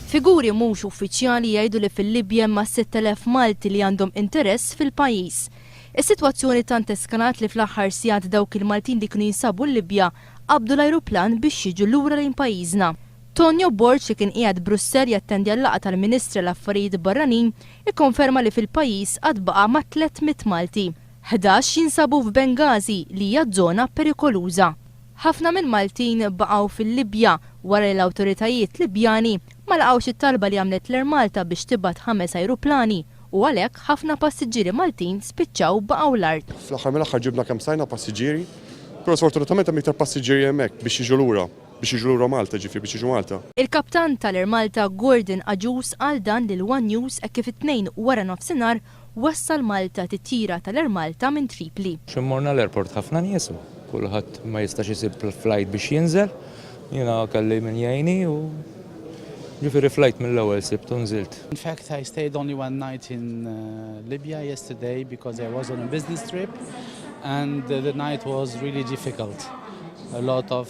Figuri mhux uffiċjali jgħidu li fil-Libja hemm mas-6,000 Malti li għandhom interess fil-pajjiż. Is-sitwazzjoni tant eskalat li fl-aħħar sigħat dawk il-Maltin li kienu jinsabu l-Libja qabdu l-ajruplan biex jiġu lura lejn pajjiżna. Tonio Borg li kien qiegħed Brussell jattendi għal-laqgħa tal-Ministri għall-Affarijiet Barranin ikkonferma li fil-pajjiż għad baqa' mat-300 Malti. Ħdax jinsabu f'Benghazi li hija żona perikoluża. Ħafna mill-Maltin baqgħu fil-Libja wara li l-awtoritajiet Libjani ma laqgħux it-talba li għamlet l-Air Malta biex tibgħat ħames ajruplani u għalhekk ħafna passiġġieri Maltin spiċċaw baqgħu l-art. Fl-aħħar mill-aħħar ġibna kemm stajna passiġġieri, però sfortunatament hemm iktar passiġġieri hemmhekk biex jiġu lura, biex jiġu lura Malta, jiġifieri biex jiġu Malta. Il-Kaptan tal-Air Malta Gordon Agius qal dan lil one News hekk kif it-Tnejn waranofsinhar Wassal Malta titjira tal-Air Malta minn Tripli. Xi morna l-airport ħafna nies u kulħadd ma jistax isib flight biex jinżel. Jiena kelli min jgħinni u ġifieri flight mill-ewwel sibt u nżilt. In fact I stayed only one night in Libya yesterday because I was on a business trip and the night was really difficult a lot of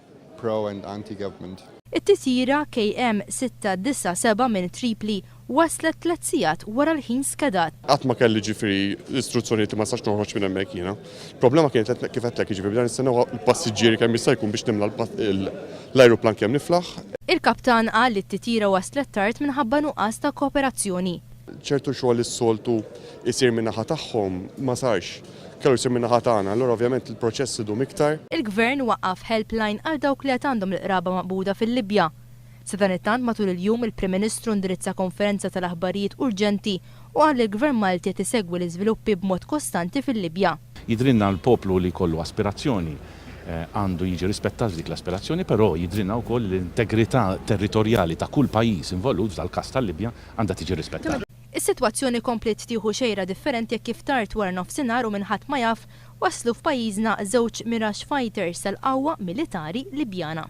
pro and anti-government. It-titjira KM 697 minn Tripli waslet tliet sigħat wara l-ħin skedat. Qatt ma kelli jiġifieri istruzzjonijiet li ma nistax noħroġ minn hemmhekk jiena. Il-problema kienet li kif għedtlek jiġifieri bdejna nistennew il-passiġġieri kemm jista' jkun biex nimla l-ajruplan kemm niflaħ. Il-kaptan qal li t-titjira waslet tard minħabba nuqqas ta' kooperazzjoni. Ċertu xogħol li s-soltu jsir min-naħa tagħhom ma sarx. Closer min-naħa tagħna, allura ovvjament il-proċess idum iktar. Il-Gvern waqqaf helpline għal dawk li għad għandhom l-qraba maqbuda fil-Libja. Sadanittant matul il-jum il-Prim Ministru ndirizza konferenza tal-aħbarijiet urġenti u qal li l-Gvern Malti qed isegwi l-iżviluppi b'mod kostanti fil-Libja. Jidhrilna li poplu li jkollu aspirazzjoni għandu jiġi rispettat f'dik l-aspirazzjoni, però jidhrilna wkoll li l-integrità territorjali ta' kull pajjiż involut, f'dal-każ tal-Libja, għandha tiġi rispettata. Is-sitwazzjoni kompliet tieħu xejra differenti hekk kif tard wara nofsinhar u minn ħadd ma jaf, waslu f'pajjiżna żewġ Mirage Fighters tal-qawwa militari Libjana.